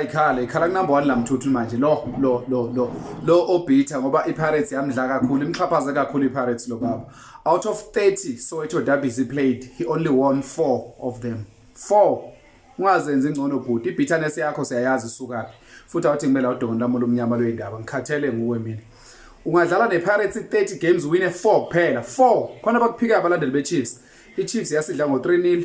Ikhala ikhala kunamba 1 lamthuthu manje lo lo lo lo lo obitha ngoba iPirates yamdla kakhulu imxhaphaze kakhulu iPirates lo baba out of 30 Soweto derbies he played he only won 4 of them 4 ungazenzi ingcono bhuti ibitterness yakho siyayazi isukaphi futhi awuthi kumele udongoni lami olumnyama lwendaba ngikhathele nguwe mina ungadlala nePirates 30 games win 4 kuphela 4 khona bakuphika abalandeli beChiefs iChiefs yasidla ngo 3-0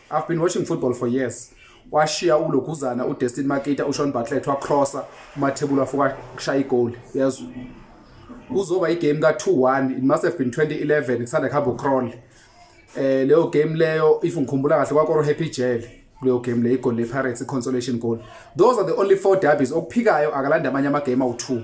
I've been watching football for years. Washiya uLoguzana uDestin Makita uShawn Bartlett wacrossa uMathebula fuka kushaya igoli. Uyazwa. Kuzoba igame ka 2-1. It must have been 2011 kusanda kuhamba uCrawl. Eh leyo game leyo if ngikhumbula kahle kwaKoro Happy Jail kuleyo game le igoli lePirates iconsolation goal. Those are the only four derbies okuphikayo akalanda amanye ama game awu2.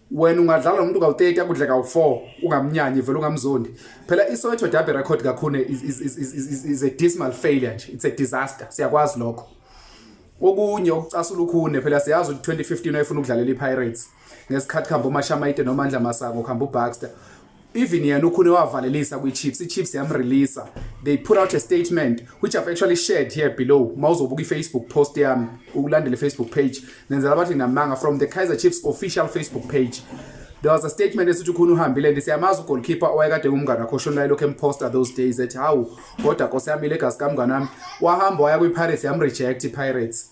wena ungadlala nomuntu kawu-30 akudle kawu-4 ungamnyanyi vele ungamzondi phela isoweto derby record kakhune is, is, is, is, is, is a dismal failure nje it's a disaster siyakwazi lokho okunye okucasula ukhune phela siyazi ukuthi 2015 wayefuna ukudlalela i-pirates ngesikhathi kuhamba umashamaite nomandla masango kuhamba ubaxter even yena ukhune wavalelisa kwi-chiefs i-chiefs yamreleasa they put out a statement which i've actually shared here below ma uzobuka i-facebook post yami ukulandela i-facebook page nenzela bathi namanga from the kaizer chiefs official facebook page there was a statement esithi ukhona uhambile ndi siyamazi ugolkeeper owayekade ngumngane wakho oshonelayo lokhu emposta those days ethi hawu kodwa nkosi yami ilegazi kamngane wami wahamba waya kwi-pirates yamreject i-pirates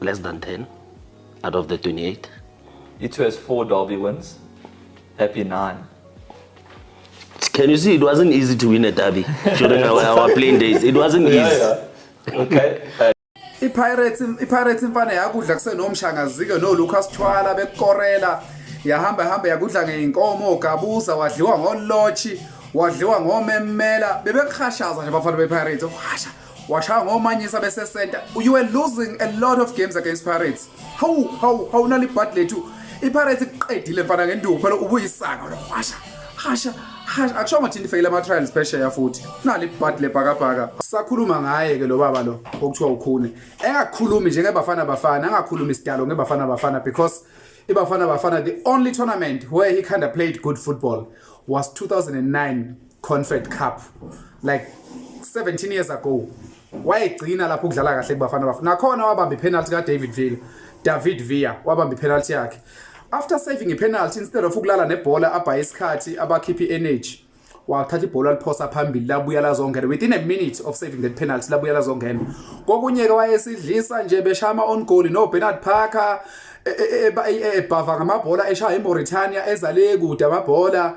less than 10 out of the 28. It has four derby wins. Happy nine. Can you see it wasn't easy to win a derby during our, our playing days? It wasn't easy. Yeah, yeah. Okay. Uh, iPirates iPirates imfana yakudla kusenomshangazike no Lucas Thwala bekorela yahamba hamba yakudla ngeinkomo gabuza wadliwa ngolotshi wadliwa ngomemela bebekuhashaza nje bafana bePirates uhasha washaya ngomanyisa besesenta you were losing a lot of games against pirates hawu hawu hawu nalibhadi lethu ipirates iqedile mfana ngenduku phela ubuyisaka wena washa hasha hasha akusho ngathi nifeyile ama trials phesheya futhi nali bhadi lebhakabhaka sakhuluma ngaye ke lo baba lo okuthiwa ukhune engakhulumi nje ngebafana bafana angakhulumi isidalo ngebafana bafana because ibafana bafana the only tournament where he kind of played good football was 2009 Confed Cup like 17 years ago wayegcina lapho ukudlala kahle kubafana bafana nakhona wabamba ipenalty ka David Villa David Villa wabamba ipenalty yakhe after saving ipenalty instead of ukulala nebhola abhaye isikhathi abakhiphi energy wathatha ibhola liphosa phambili labuya lazongena within a minute of saving that penalty labuya lazongena kokunye ke wayesidlisa nje beshama on goal no Bernard Parker ebhava ngamabhola eshaya eMauritania ezale kude amabhola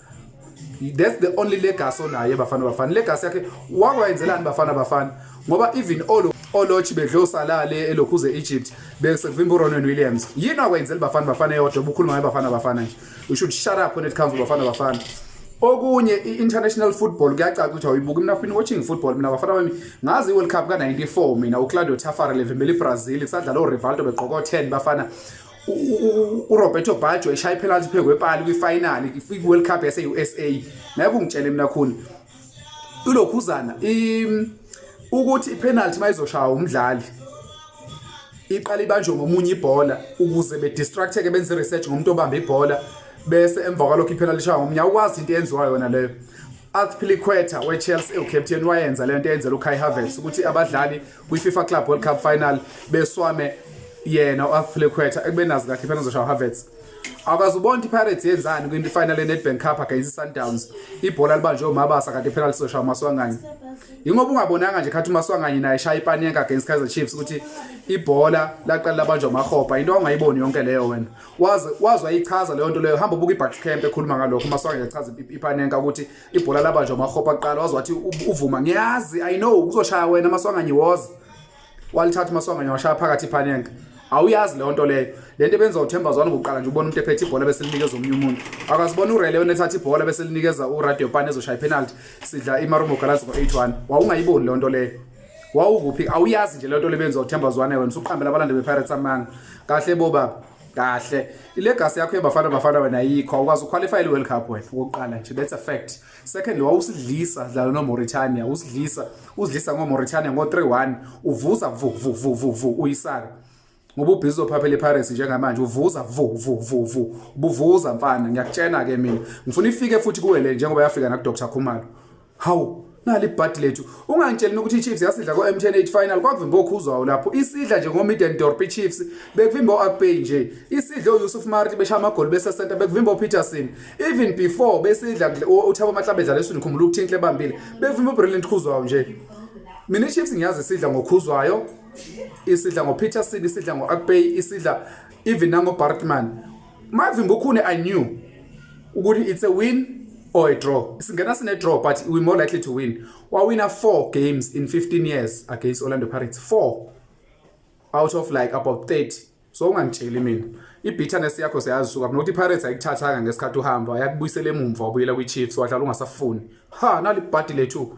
that's the only legacy onayo bafana bafana legacy yakhe wakwayenzelani bafana bafana ngoba even all olochi bedle usalale elokhuze Egypt bese kuvimba uRonan Williams yini akwenzela bafana bafana eyodwa ubukhuluma ngaye bafana bafana nje you should shut up when it comes to bafana bafana okunye i-international football kuyacaca ukuthi awuyibuki mina fini watching football mina bafana bami ngazi i-world cup ka-94 mina uclaudio tafara levimbela ibrazil kusadlala urivaldo begqoka o-10 bafana uRoberto Baggio eshaya ipenalty phezu kwepali kwifinal kwi-World Cup yase-USA naye kungitshele mina khuni ilokhuzana ukuthi ipenalty mayizoshaya umdlali iqala ibanjwe ngomunye ibhola ukuze bedistracteke benze research ngomuntu obamba ibhola bese emva kwalokho ipenalty ishaya ngomunye awukwazi into eyenziwa yona leyo Azpilicueta weChelsea ewucaptain wayenza lento eyenzela uKai Havertz ukuthi abadlali kwiFifa Club World Cup final beswame yena uAthlequeta ekubenazi kahle iPirates zoshaya Havertz akaze ubona iPirates yenzani kwinto ifinal eNedbank Cup against iSundowns ibhola libanjwe uMabasa kanti iPirates zoshaya uMaswanganye yingoba ungabonanga nje khathi uMaswanganye naye shaya iPanenka against Kaizer Chiefs ukuthi ibhola laqala labanjwa uMahopa into ongayiboni yonke leyo wena waze wazwa ichaza leyo nto leyo hamba ubuka iBucks Camp ekhuluma ngalokho uMaswanganye echaza iPanenka ukuthi ibhola labanjwa umahopa kuqala waze wathi uvuma ngiyazi i know kuzoshaya wena maswanganye woza walithatha umaswanganye washaya phakathi iphanenka awuyazi leyo nto leyo le nto ebenza uthemba zwane ngokuqala nje ubona umuntu ephethe ibhola bese linikeza omunye umuntu akazibona urele wena ethatha ibhola bese linikeza uradio pan ezoshaya ipenalty sidla imarumo galazi ngo-eight one wawungayiboni leyo nto leyo wawukuphi awuyazi nje leyo nto lebenza uthemba zwane wena usuqambela abalandeli bepirates amanga kahle bo baba kahle ilegacy yakho yebafana bafana wena ayikho awukwazi uqualify i-world cup wena okokuqala nje that's a fact secondly wawusidlisa dlala nomauritania usidlisa usidlisa ngomauritania ngo-3-1 uvuza vu vu vu vu vu uyisaka ngoba ubhizi uzophaphela ipirates njengamanje uvuza vu vu vu vu ubuvuza mfana ngiyakutshena-ke mina ngifuna ifike futhi kuwe le njengoba yafika nakudr khumalo Hawu, nali ibhadi lethu. Ungangitsheli mina ukuthi iChiefs yasidla ko-M10 8 final kwakuvimba okhuzwayo lapho. Isidla nje ngoMiden Dorp iChiefs bekuvimba o-Akpay nje. Isidla uYusuf Marti beshaya amagoli bese center bekuvimba uPeterson. Even before besidla uThabo Mahlabe edlala esini khumbula ukuthi inhle bambile. Bekuvimba uBrilliant Khuzwayo nje. Mina iChiefs ngiyazi isidla ngokhuzwayo. Isidla ngoPeterson, isidla ngoAkpay, isidla even nangoBartman. Mavimbokhune I knew ukuthi it's a win or a draw. Singena sine draw but we more likely to win. Wawina 4 games in 15 years against Orlando Pirates. 4 out of like about 30. So ungangitsheli mina. I-bitterness yakho siyazisuka nokuthi i-Pirates ayikuthathanga ngesikhathi uhamba yakubuyisela emumva wabuyela kwi-Chiefs wadlala ungasafuni. Ha nalibhadi lethu.